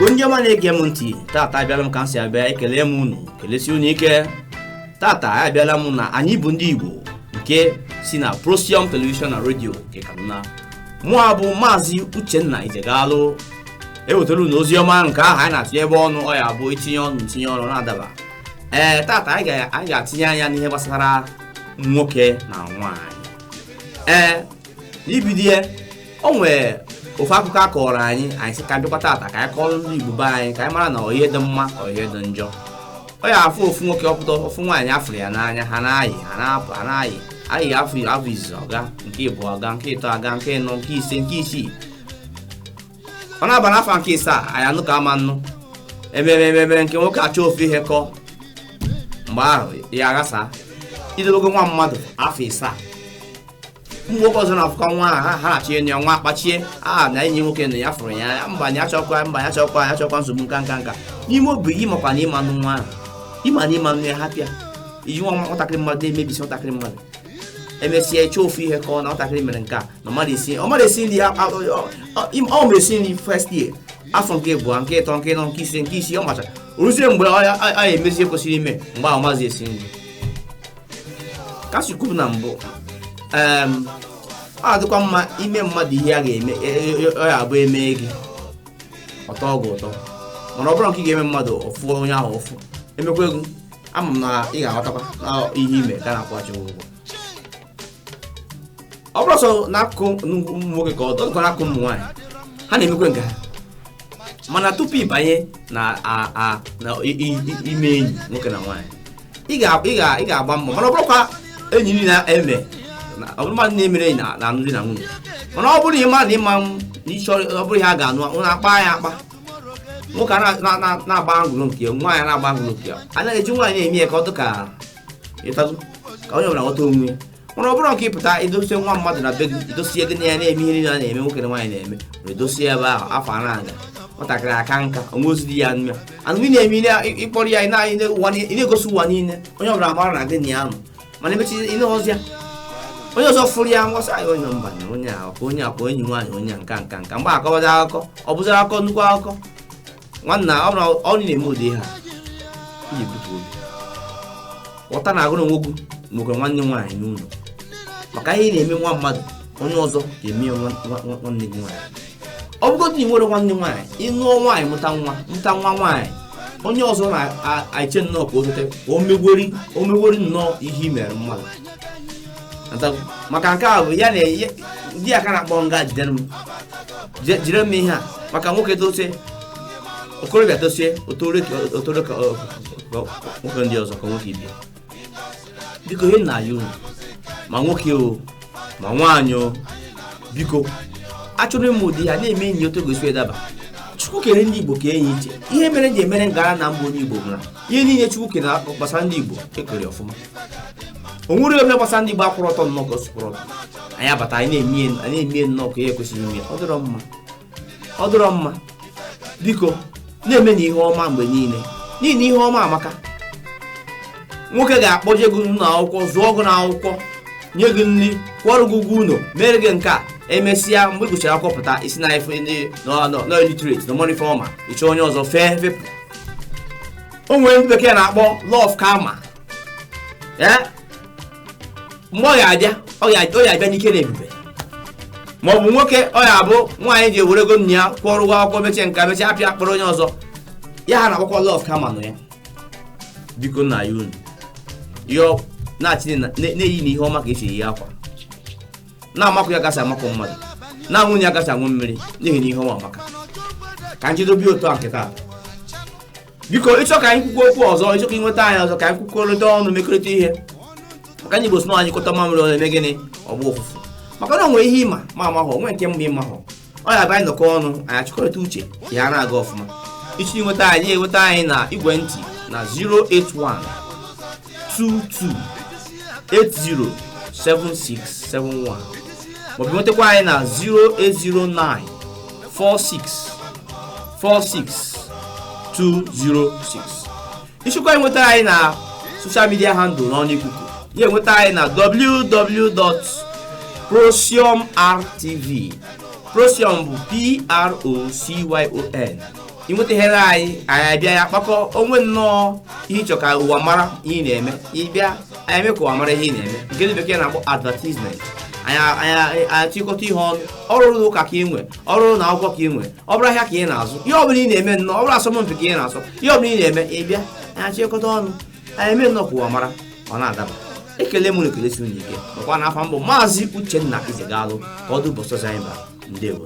Igbo ndị ọma na-ege m ntị tata abịala m ka m si abịa ekele m unu kelesi unu ike tata abịala m na anyị bụ ndị Igbo nke si na Prosium Television na Radio nke Kaduna mụ a bụ maazị Uchenna Ijegalụ ewetara unu ozi ọma nke ahụ anyị na-atinyebe ọnụ ọ ya bụ itinye ọnụ ntinye ọnụ na-adaba ee tata anyị ga-atinye anya n'ihe gbasara nwoke na nwaanyị ee n'ibido ya o nwere ofu akụkọ a kọrọ anyị anyị sị ka bịakwa tata ka anyị kọrọ ndị igbo be anyị ka anyị mara na ọ ihe dị mma ọ ihe dị njọ ọ ya afụ ofu nwoke ọ pụta ofu nwaanyị afụrụ ya n'anya ha na-ayị ha na-apụ ha na-ayị ayị afọ afọ izizi aga nke ịbụa aga nke ịtọ aga nke ịnọ nke ise nke isii ọ na-aba n'afọ nke isaa anyị anụ ka ama nnụ emere emere nke nwoke achọ ofu ihe kọọ mgbe ahụ ya aghasa i dobego nwa mmadụ afọ isaa ụmụ nwoke ọzọ na-afụkwa nwa ha ha na-achọ enyi ya nwa akpachie a na enyi nwoke na ya fụrụ ya ya mba ya chọkwa mba ya chọkwa ya chọkwa nsogbu nka nka nka n'ime obi gị makwa na ị ma-anụ nwa ahụ ị ma na ị ma-anụ ya hapụ ya i ji nwa nwatakịrị mmadụ na-emebisi nwatakịrị mmadụ emesịa ị chọọ ofu ihe kọọ na nwatakịrị mere nke a na ọ marọ esi ọ marọ esi nri a- a- ọ- ọ- im- ọ ma esi nri first year afọ nke abụọ nke ịtọ nke ịnọ nke ise nke isii ọ macha o ruzie mgbe ọ ya- a ya emezi ihe kwesịrị ime mgbe ahụ ọ mazi esi nri ka si kwubu na mbụ em, ọ adịkwa mma ime mmadụ ihe a ga-eme e- e- e- ọ ya abụ emee gị ọ tọọ gị ụtọ mana ọ bụrụ nke ị ga-eme mmadụ ọ fụọ onye ahụ ụfụ emekwa gị ama m na ị ga-aghọtakwa na ihe i me ka a na-akwụghachi ụgwọ ọ bụrọ sọ n'akụkụ ụmụ nwoke ka ọ dịkwa n'akụkụ ụmụ nwaanyị ha na-emekwe nke ha mana tupu ịbanye na ime enyi nwoke na nwaanyị ị ga-agba mbọ ma na ọ bụrọkwa enyi niile na-eme ọ bụrọ mmadụ na-emere enyi na alụmdi na nwunye mana ọ bụrụ na ị ma na ị ma na ị chọ ọ bụrọ ihe a ga-anụ unu akpa ya akpa nwoke na-agba ngụrụ nke ya nwaanyị na-agba ngụrụ nke ya anaghị eji nwaanyị na-eme ya ka ọ dị ka ịta azụ ka onye ọbụla ghọta onwe ya mana ọ bụrụ nke ị pụta i dosie nwa mmadụ na be gị i dosie gị na ya na-eme ihe niile a na-eme nwoke na nwaanyị na-eme were dosie ebe ahụ afọ a na-aga nwatakịrị aka nka o nwerọzi di ya nma anụ ị na-eme ihe na- ị kpọrọ ya ị na- ị na- ụwa niile- ị na-egosi ụwa niile onye ọbụla mara na gị na ya nọ mana emechaa ị nụrọzi ya onye ọzọ fụrụ ya ngwasị anyị onye mba na onye a ka onye a ka enyi nwaanyị onye a nka nka nka mgbe akọwazi akụkọ ọ bụzara akụkọ nnukwu akụkọ nwanna ọ bụrụ ị na-eme ụdị ihe a ị ga-ebutu obi ghọta na agụrụ nwoke nwoke nwanne nwaanyị n'ụlọ maka ihe ị na-eme nwa mmadụ onye ọzọ ga-eme ya nwa- nwa- nwa- nwanne gị nwaanyị ọ bụgodị na ị nwere nwanne nwaanyị ị nụọ nwaanyị mụta nwa mụta nwa nwaanyị onye ọzọ na-eche nnọọ ka o zote ka o megwori o megwori nnọọ ihe i mere mmadụ Nta- maka nke a bụ ya na ya- di ya ka na-akpọ nga jidere m Je- jidere m ihe a maka nwoke tosie okorobịa tosie o toro ka o toro ka ọ- ọ- nwoke ndị ọzọ ka nwoke ibe ya biko ihe na-ayọ unu ma nwoke o ma nwaanyị o biko achọrọ m ụdị ihe na-eme anyị otu ọ ga-esi adaba chukwu kere ndị igbo kee anyị iche ihe mere m ji emere ngara na m bụ onye igbo bụ na ihe niile chukwu kere gbasara ndị igbo e kere ọfụma o nwerọ ihe gbasara ndị Igbo akwụrọ ọtọ nnọọ ka o si kwụrụ ọtọ anyị abata anyị na-eme nnọọ ka ihe ekwesịghị ime ọ dịrọ mma ọ dịrọ mma biko na-emenụ ihe ọma mgbe niile n'ihi na ihe ọma amaka nwoke ga-akpọje gị n'ụlọ akwụkwọ zụọ gị n'akwụkwọ nye gị nri kwụọrọ gị ụgwọ ụlọ mere gị nke a emesịa mgbe ị gụchara akwụkwọ pụta ị sị na ife ndị na ọ na ọ na ọ illiterate na ọ marọ ife ọ ma ị chọọ onye ọzọ fee fepụ o nwere ndị bekee na-akpọ law of karma ee mgbe ọ ga-abịa ọ ga- ọ ga-abịa n'ike na ebube ma ọ bụ nwoke ọ ya-abụ nwaanyị ji were ego nna ya kwụọ ụgwọ akwụkwọ mechie nke a mechie apịa akpọrọ onye ọzọ ihe ha na-akpọkwa law of karma nọ ya biko na-ayọ unu ayọ na-achị na- na- na-eyinụ ihe ọma ka e si eyi akwa na-amakụ ya ka e si amakụ mmadụ na-aṅụ ya ka e si aṅụ mmiri n'ihi na ihe ọma amaka ka m jedobe otu a nke taa biko ị chọọ ka anyị kwukwuo okwu ọzọ ị chọọ ka ị nweta anyị ọzọ ka anyị kwukọrịta ọnụ mekọrịta ihe maka ndị Igbo sị na a nyụkọta mamịrị ọnụ o mee gịnị ọ gbọọ ụfụfụ maka na o nwe ihe ị ma m amahọ o nwe nke m ma ị mahọ ọ ya-abụ anyị nọkọọ ọnụ anyị achịkọrịta uche ihe ana-aga ọfụma ị chọọ inweta anyị ị nweta anyị na igwe ntị na 081 22 807671 maọbụ nwetakwa anyị na 0809 46 46206 ị chọkwa inweta anyị na social media handle n'ọnụ ikuku ị ya-enweta anyị na www.procyonrtv procyon bụ p-r-o-c-y-o-n ịnwetaghere anyị anyị abịa ya kpakọ o nwe nnọọ ihe ị chọ ka ụwa mara ihe ị na-eme ị bịa anyị eme ka ụwa mara ihe ị na-eme nke ndị bekee na-akpọ advertisement anyị achịkọta ihe ọnụ ọ bụrụ ụka ka ị nwe ọ bụrụ ụnọ akwụkwọ ka ị nwe ọ bụrụ ahịa ka ị na-azụ ihe ọbụla ị na-eme nnọọ ọ bụrụ asọmpi ka ị na-asọ ihe ọbụla ị na-eme ị bịa anyị achịkọta ọnụ anyị eme nnọọ ka ụwa mara ọ na-adaba ekele m unu ekelesi unu ike nakwa na afa m bụ maazị uchenna izegalụ ka ọ dị ụbọchị ọzọ anyị bịara ndewo